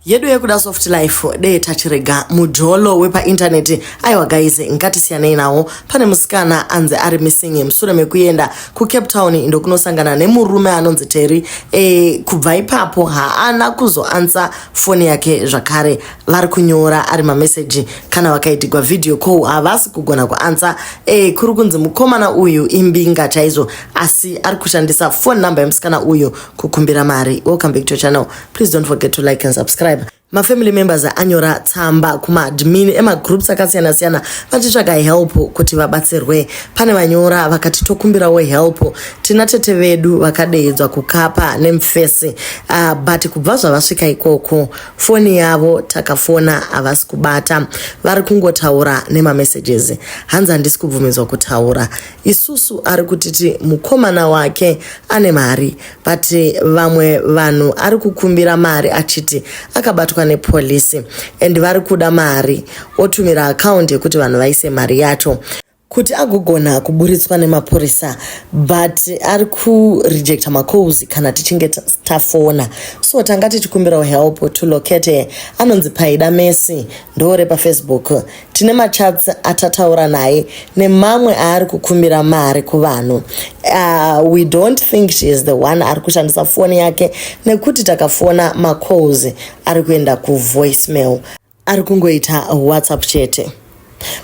yedu yekuda soft life dee tachirega mujolo wepaintaneti aiwa guys ngatisiyanei nawo pane musikana anzi ari missing musure mekuenda kucape town indo kunosangana nemurume anonzi teri e, kubva ipapo haana kuzoansa foni yake zvakare vari kunyora ari mameseji kana vakaitigwa vhidhiyo ko havasi kugona kuansa e, kuri kunzi mukomana uyu imbinga chaizvo asi ari kushandisa foni number yemusikana uyu kukumbira mari welcome back to channel please don't forget to like and subscribe mafamily members anyora tsamba kumaadmin emagroups akasiyana siyana vachitsvaga help kuti vabatsirwe pane vanyora vakati tokumbirawo help tina tete vedu vakadeedzwa kukapa nemfesi uh, ah, but kubva zvavasvika ikoko foni yavo takafona havasi kubata vari kungotaura nemamessages hanzi handisi kubvumidzwa kutaura isusu ari kutiti mukomana wake ane mari but vamwe vanhu ari kukumbira mari achiti akabatwa nepolisi and vari kuda mari otumira akaundi yekuti vanhu vaise mari yacho kuti agogona kuburitswa nemapurisa but ari kurejecta macalls kana tichinge tafona so tanga tichikumbirawo help to locate anonzi paida mesi ndoore pafacebook tine machats atataura naye nemamwe aari kukumbira mari kuvanhu uh, we don't think she is the one ari kushandisa foni yake nekuti takafona macalls ari kuenda kuvoicemail ari kungoita whatsapp chete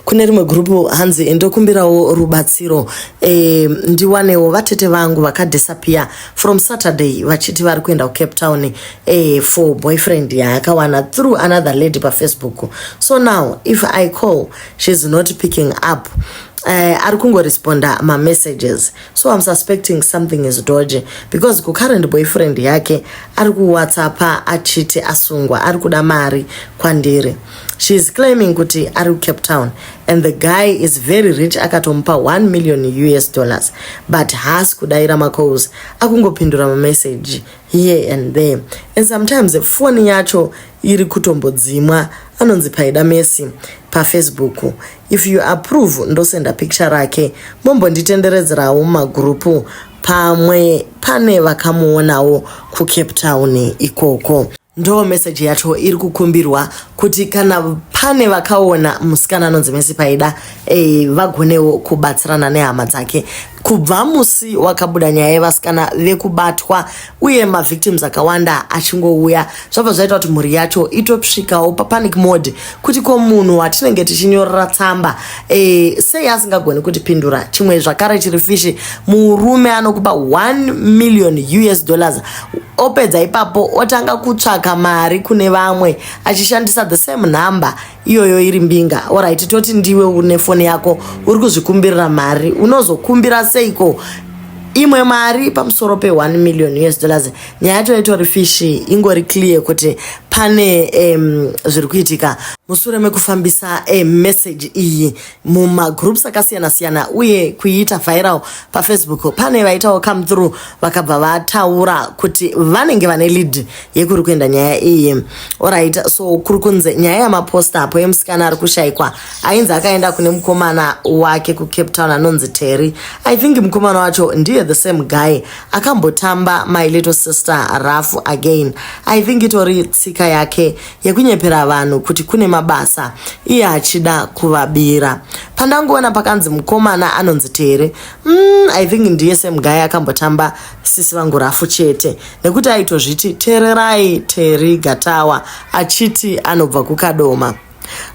kune rimwe gurupu hanzi ndokumbirawo rubatsiro e, ndiwanewo vatete vangu vakadhisapiya from saturday vachiti vari kuenda kucape town eh, for boyfriend yaakawana through another lady pafacebook so now if i call she's not picking up Uh, ari kungoresponda mamessages so im suspecting something is doge because kucurrent boyfriend yake ari kuwhatsappa achiti asungwa ari kuda mari kwandiri She is claiming kuti ari kuCape Town and the guy is very rich akatomupa 1 million US dollars but haasi kudaira macalls akungopindura mamessage here and there and sometimes foni yacho iri kutombodzimwa anonzi paida mesi pafacebook if you approve ndosenda picture rake mombonditenderedzerawo mumagurupu pamwe pane vakamuonawo kucape town ikoko Ndoo message yacho iri kukumbirwa kuti kana pane vakaona musikana anonzi Messi Paida eh, vagonewo kubatsirana nehama dzake. Kubva musi wakabuda nyaya yevasikana vekubatwa uye mavictims akawanda achingouya zvabva zvaita kuti mhuri yacho itosvikawo papanic mode kuti ko munhu watinenge tichinyorera tsamba e, sei asingagoni kutipindura chimwe zvakare chiri fishi murume anokupa 1 million us dollars opedza ipapo otanga kutsvaka mari kune vamwe achishandisa the same number iyoyo iri mbinga orit toti ndiwe une foni yako uri kuzvikumbirira mari unozokumbira seiko imwe mari pamusoro pe1 million us dollars nyaya yacho itori fish ingori clear kuti pane um, zviri kuitika mushure mekufambisa um, message iyi mumagroups akasiyana siyana uye kuiita viral pafacebook pane vaitawo come through vakabva vataura kuti vanenge vane lead yekuri kuenda nyaya iyi orit so kuri kunzi nyaya yamaposta apo yemusikana ari kushaikwa ainzi akaenda kune mukomana wake kucape town anonzi terry i think mukomana wacho ndiye the same guy akambotamba my little sister rafu again i think itori tsika yake yekunyepera vanhu kuti kune mabasa iye achida kuvabira pandangoona pakanzi mukomana anonzi tere mm, i think ndiye semgai akambotamba sisi vangu rafu chete nekuti aitozviti tererai teri gatawa achiti anobva kukadoma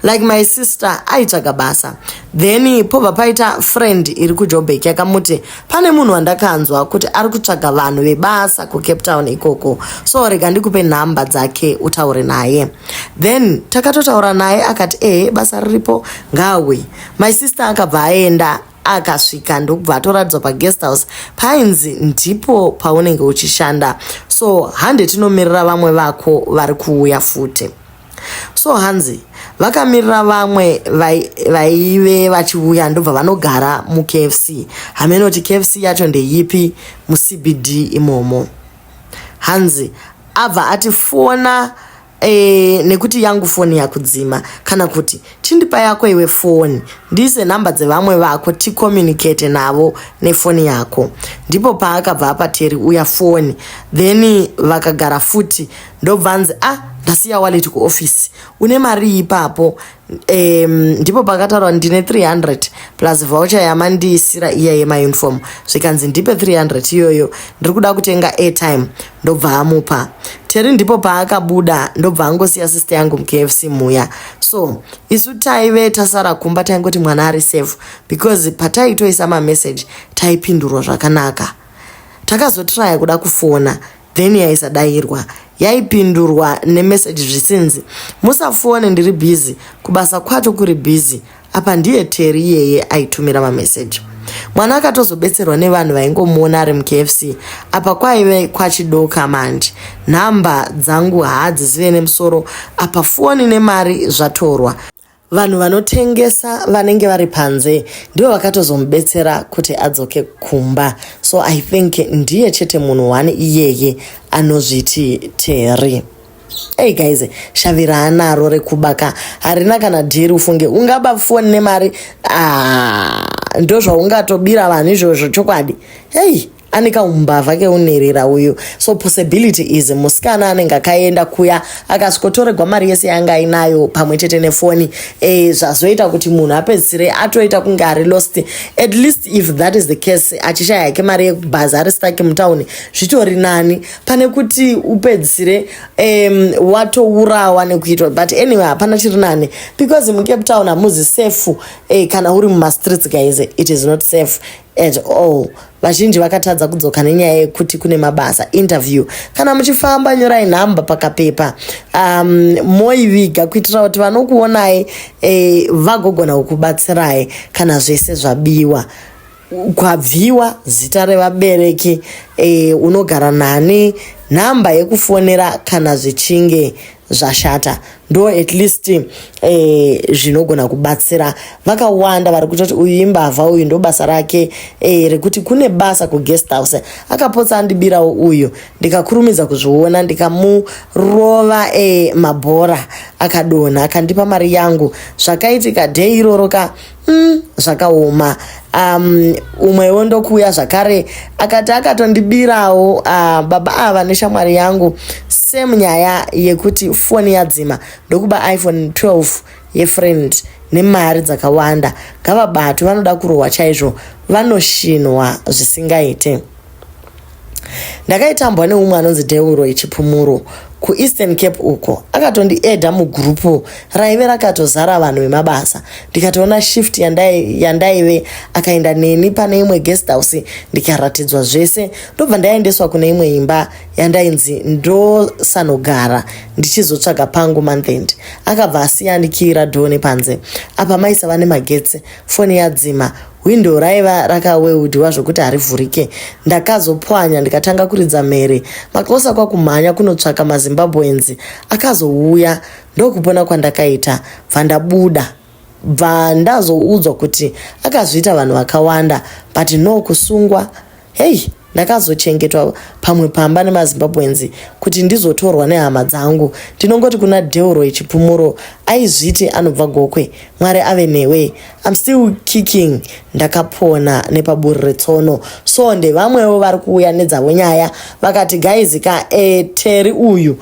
like my sister aitsvaga basa then pobva paita friend iri kujobek yakamuti pane munhu wandakanzwa kuti ari kutsvaga vanhu vebasa kucape town ikoko so rega ndikupe nhamba dzake utaure naye then takatotaura naye akati ehe basa riripo ngawe my sister akabva aenda akasvika ndokubva atoradzwa paguest house painzi ndipo paunenge uchishanda so hande tinomirira vamwe vako vari kuuya futi so hanzi vakamirira vamwe vaive vachiuya ndobva vanogara mukfc hameno kuti kfc yacho ndeyipi mucbd imomo hanzi abva ati fona e, nekuti yangu foni yakudzima kana kuti chindipa yako iwe foni ndiise nhamba dzevamwe vako ticommunicate navo nefoni yako ndipo paakabva apa teri uya foni then vakagara futi ndobva anzi a ah, ndasiya wallet kuoffice une mari ipapo um, ndipo pakataurwa ndine 300 plus voucher yamandiisira iya yemauniform zvikanzi ndipe 300 iyoyo ndiri kuda kutenga airtime ndobva amupa teri ndipo paakabuda ndobva angosiya sister yangu mukfc muya so isu taive tasara kumba taingoti mwana ari safe because pataitoisa mamessage taipindurwa zvakanaka takazotraya kuda kufona then yaisadairwa yaipindurwa nemeseji zvisinzi musafone ndiri bhizi kubasa kwacho kuri bhizi apa ndiye teri iyeye aitumira mameseji mwana akatozobetserwa nevanhu vaingomuona ari mukfc apa kwaive kwachidoka manje nhamba dzangu haadzizive nemusoro apa foni nemari zvatorwa Vanhu vanotengesa vanenge vari panze ndivo vakatozomubetsera kuti adzoke kumba. So I think ndiye chete munhu one iyeye anozviti Terry. Hey guys, shavi raanaro rekuba ka harina kana dhiri ufunge ungaba foni nemari ah, ndozvaungatobira vanhu izvozvo chokwadi. Hey. ane kaumbavha keunerera uyu so possibility is musikana anenge akaenda kuya akasvikotoregwa mari yese yanga ainayo pamwe chete nefoni e, zvazoita kuti munhu apedzisire atoita kunge ari lost at least if that is the case achishaya yake mari yekubhazi ari stake mutown zvitori nani pane kuti upedzisire um, watourawa nekuitwa but anyway hapana chiri nani because mucape town hamuzi safe e, kana uri mumastreets guys it is not safe at all vazhinji vakatadza kudzoka nenyaya yekuti kune mabasa interview kana muchifamba nyorai nhamba pakapepa um, moiviga kuitira kuti vanokuonai eh, vagogona kukubatsirai kana zvese zvabiwa kwabviwa zita revabereki eh, unogara nani nhamba yekufonera kana zvichinge zvashata ndo at least eh, zvinogona kubatsira vakawanda vari kuita kuti uyu imbavha uyu ndo basa rake eh, rekuti kune basa kuguest house akapotsa andibirawo uyu ndikakurumidza kuzviona ndikamurova eh, mabhora akadonha akandipa mari yangu zvakaitika dhei iroro ka Mm, zvakaoma um, umwewo ndokuuya zvakare akati akatondibirawo uh, baba ava neshamwari yangu same nyaya yekuti foni yadzima ndokuba iphone 12 yefriend nemari dzakawanda ngavabatwe vanoda kurohwa chaizvo vanoshinwa zvisingaite ndakaitambwa neumwe anonzi deuro ichipumuro kueastern cape uko akatondiedha mugrupu raive rakatozara vanhu vemabasa ndikatoona shift yandaive akaenda neni pane imwe guest house ndikaratidzwa zvese ndobva ndaendeswa kune imwe imba yandainzi ndosanogara ndichizotsvaga pangu monthend akabva asiyandikira dhoo nepanze apa maisava nemagetsi foni yadzima Hwindo raiva rakaweudiwa zvokuti harivhurike. Ndakazopwanya ndikatanga kuridza mhere. Makosa kwakumhanya kunotsvaka maZimbabweans. Akazouya ndokupona kwandakaita bva ndabuda bva ndazoudzwa kuti akazviita vanhu vakawanda but no kusungwa Hey, ndakazochengetwa pamwe pamba nemazimbabwenzi kuti ndizotorwa nehama dzangu ndinongoti kuna deuro echipumuro aizviti anobva gokwe mwari ave newe im still kicking ndakapona nepaburi retsono so ndevamwewo vari kuuya nedzavo nyaya vakati gaizi ka eteri eh, uyu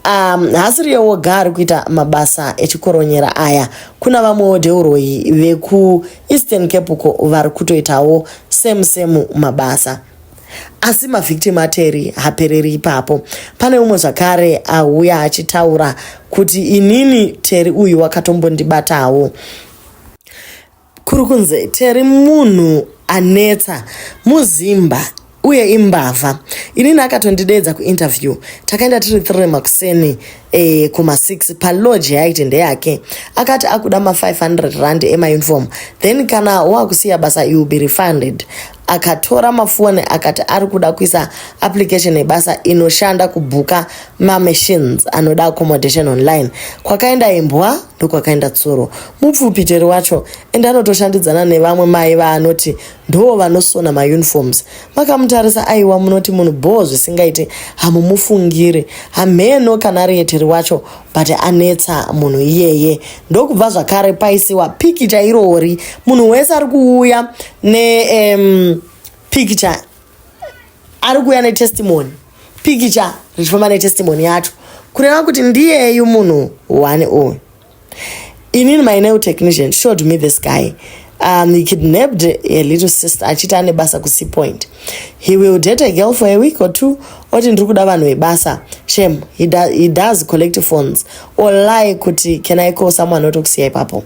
Um, haasiriye woga ari kuita mabasa echikoronyera aya kuna vamwewo deuroyi vekueastern cape uko vari kutoitawo same same mabasa asi mavictim ateri hapereri ipapo pane umwe zvakare auya achitaura kuti inini teri uyu wakatombondibatawo kuri kunzi teri munhu anetsa muzimba uye imbavha inini akatondideedza kuinterview takaenda tiri three makuseni e, kumasix palodge yaaiti ndeyake akati akuda ma500 rand emauniform then kana wakusiya basa you be refunded akatora mafoni akati ari kuda kuisa application yebasa inoshanda kubhuka mamachines anoda accommodation online kwakaenda imbwa ndokwakaenda tsuro mupfupiteri wacho ende anotoshandidzana nevamwe mai vaanoti ndoo vanosona mauniforms makamutarisa aiwa munoti munhu bhoo zvisingaiti hamumufungiri hamheno kana ari yeteri wacho but anetsa munhu iyeye ndokubva zvakare paisiwa pikicha irori munhu wese ari kuuya nepikicha ari kuuya netestimony pikicha richifamba netestimony yacho kureva kuti ndiyeyu munhu one uyu inini my nail technician showed me this guy um, he kidnapped a little sister achiti ane basa kuc point he will date a girl for a week or two oti ndiri kuda vanhu vebasa shem he, do, he does collective phones or lie kuti can i call someone otokusiya ipapo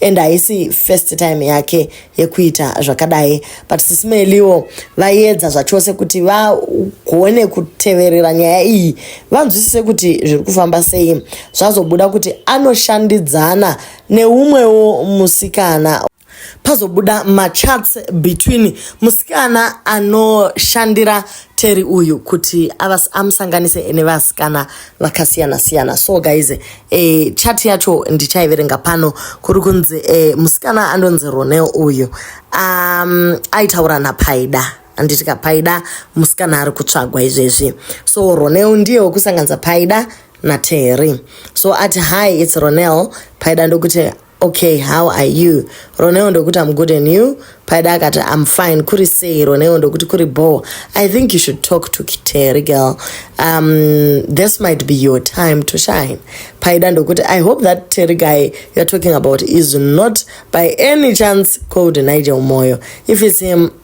and haisi first time yake yekuita zvakadai but sisi meliwo vaiedza zvachose kuti vagone kuteverera nyaya iyi vanzwisise kuti zviri kufamba sei zvazobuda kuti anoshandidzana neumwewo musikana pazobuda machats between musikana anoshandira teri uyu kuti amusanganise nevasikana vakasiyana siyana so guys e, chat yacho ndichaiverenga pano kuri kunzi e, musikana andonzi ronel uyu um, aitaura napaida anditi kapaida musikana ari kutsvagwa izvezvi so ronel ndiye wekusanganisa paida naterry so ati hi its ronel paida ndokuti Okay, how are you? Roneo ndokuti I'm good and you? Paida akati I'm fine. Kuri sei? Roneo ndokuti kuri bho. I think you should talk to Kiteri girl. Um, this might be your time to shine. Paida ndokuti I hope that Terry guy you're talking about is not by any chance called Nigel Moyo. If it's him,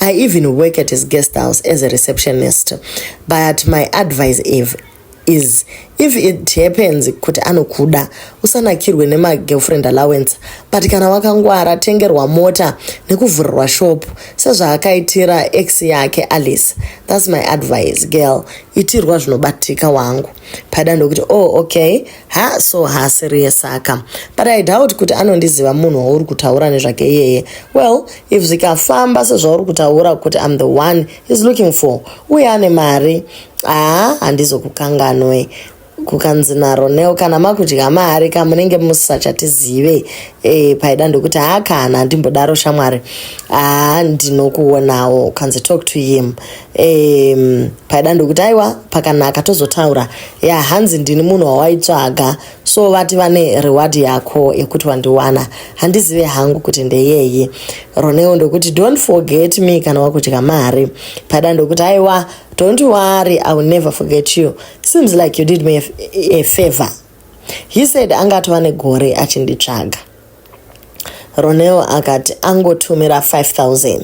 I even work at his guest house as a receptionist. But my advice if, is if it happens kuti anokuda usanakirwe nemagirlfriend allowance but kana wakangwara tengerwa mota nekuvhurirwa shop sezvaakaitira ex yake alice thats my advice girl itirwa zvinobatika wangu pada ndokuti oh okay ha so haasiriye saka but i doubt kuti anondiziva munhu wauri kutaura nezvake iyeye well if zvikafamba sezvauri kutaura kuti im the one is looking for uye ane mari aa handizokukanganwe kukanzi naronel kana makudya mari ka munenge musisachatizive e, paida ndokuti haa kana handimbodaro shamwari haa ndinokuonawo ukanzi talk to him um, paida ndokuti aiwa pakanaka tozotaura ya hanzi ndini munhu wawaitsvaga so vati vane reward yako yekuti wandiwana handizive hangu kuti ndeyeyi roneo ndokuti don't forget me kana wakudya mari paida ndokuti aiwa don't worry i will never forget you seems like you did me a, a favor he said anga atova negore achinditsvaga Ronel akati angotumira 5000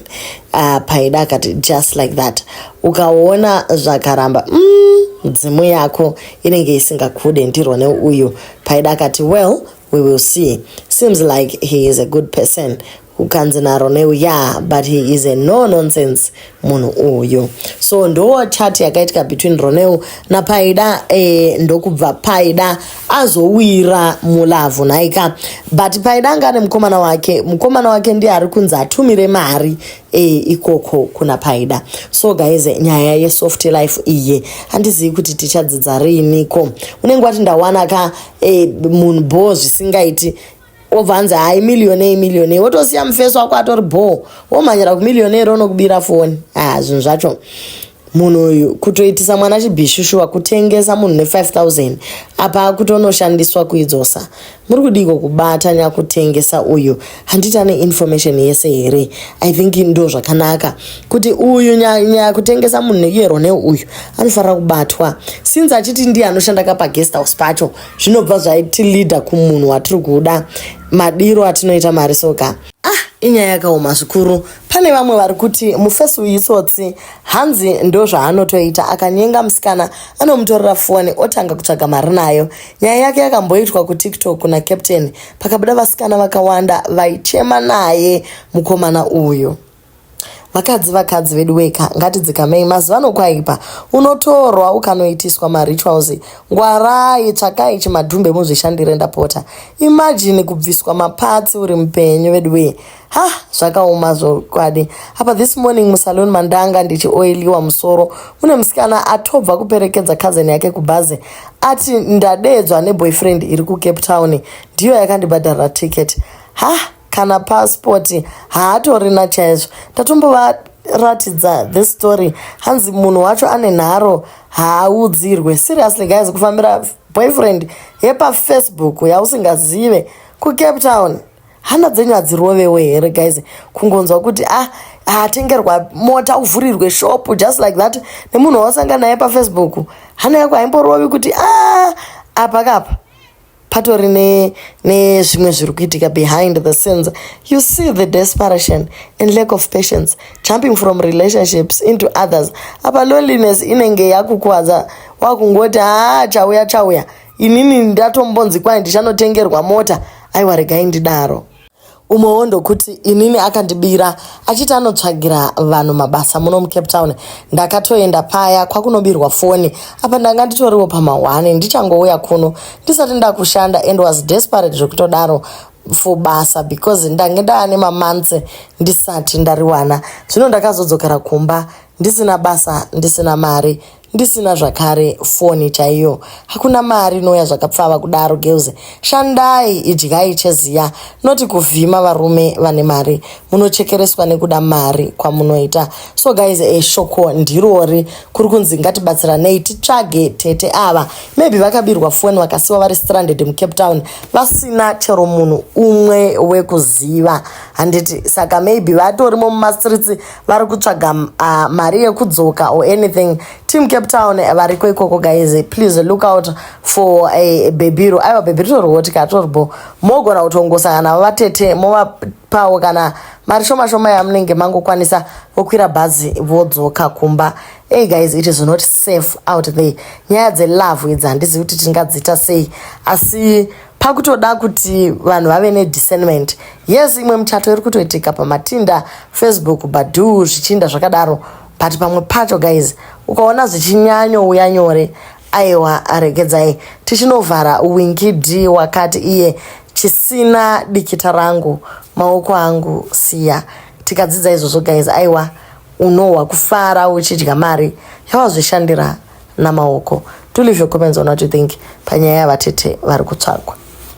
uh, paida akati just like that ukaona zvakaramba mm, dzimu yako inenge isingakude ndironel uyu paida akati well we will see seems like he is a good person ukanzi naronel ya yeah, but he is a no nonsense munhu uyu so ndo chat yakaitika between ronel napaida eh, ndokubva paida azowira mulavhu nhaika but paida anga ane mukomana wake mukomana wake ndiye ari kunzi atumire mari e, ikoko kuna paida so guys nyaya yesoft life iye handizivi kuti tichadzidza riiniko unenge wati ndawana ka e, eh, munhu bho zvisingaiti wobva anzi hai millionei millionei wotosiya mufesi wako atori bhoo womhanyira kumillionei ronokubira foni haa zvinhu zvacho munhu uyu kutoitisa mwana chibhishushuwa kutengesa munhu ne5000 apa akutonoshandiswa kuidzosa muri kudiko kubata nyakutengesa uyu handiti ane information yese here i think ndo zvakanaka kuti uyu nyakutengesa munhu neyero neuyu anofanira kubatwa since achiti ndiye anoshanda kapagest house pacho zvinobva zvaiti leader kumunhu watiri kuda madiro atinoita mari soka ah inyaya yakaoma zvikuru pane vamwe vari kuti mufesi uyu itsotsi hanzi ndo zvaanotoita akanyenga musikana anomutorera foni otanga kutsvaga mari nayo nyaya yake yakamboitwa kutiktok kuna captain pakabuda vasikana vakawanda vaichema naye mukomana uyu Vakadzi vakadzi veduweka ngatidzikamei mazuvano kwaipa unotorwa ukanoitiswa marituals ngwarai tsvakai chimadhumbe muzvishandire ndapota imagine kubviswa mapatsi uri mupenyu veduwee ha zvakaoma zvokwadi apa this morning musalon mandanga ndichioiliwa musoro mune musikana atobva kuperekedza cousin yake kubhazi ati ndadeedzwa neboyfriend iri kucape town ndiyo yakandibhadharira ticket ha kana passport haatorina chaizvo ndatombovaratidza this story hanzi munhu wacho ane nharo haaudzirwe seriously guys kufambira boyfriend yepafacebook yausingazive kucape town hana dzenyu hadzirovewo here guys kungonzwa kuti ah atengerwa mota uvhurirwe shop just like that nemunhu wausanga naye pafacebook hana yako haimborovi kuti a ah, apa kapa patori nezvimwe ne zviri kuitika behind the scenes you see the desperation and lack of patience jumping from relationships into others apa loneliness inenge yakukwadza wakungoti haa ah, chauya chauya inini ndatombonzi kwai ndichanotengerwa mota aiwa regai ndidaro umwewo ndokuti inini akandibira achiti anotsvagira vanhu mabasa muno mucape town ndakatoenda paya kwakunobirwa foni apa ndanga nditoriwo pamahwani ndichangouya kuno ndisati ndakushanda and was desperate zvekutodaro for basa because ndange ndaane mamantse ndisati ndariwana zvino ndakazodzokera kumba ndisina basa ndisina mari ndisina zvakare foni chaiyo hakuna mari inouya zvakapfava kudaro girls shandai idyai cheziya noti kuvhima varume vane mari munochekereswa nekuda mari kwamunoita so guys eshoko eh, ndirori kuri kunzi ngatibatsiranei titsvage tete ava maybe vakabirwa foni vakasiwa vari stranded mucape town vasina chero munhu umwe wekuziva handiti saka maybe vatorimo mumastreets vari kutsvaga uh, mari yekudzoka or anything team cape town variko ikoko guys please look out for a bebiro aiwa bebiro torihoti ka toribo mogona kutongosangana navo vatete movapawo kana mari shoma shoma yamunenge mangokwanisa vokwira bhazi vodzoka kumba hey guys it is not safe out there nyaya dzelove idzi handizivi kuti tingadziita sei asi pakutoda kuti vanhu vave nediscernment yes imwe muchato iri kutoitika pamatinda facebook badu zvichinda zvakadaro but pamwe pacho guys ukaona zvichinyanyouya nyore aiwa aregedzai tichinovhara wingidi wakati iye chisina dikita rangu maoko angu siya tikadzidza izvozvo guys aiwa unohwa kufara uchidya mari yawazvishandira namaoko to leave your comments on what you think panyaya yavatete vari kutsvagwa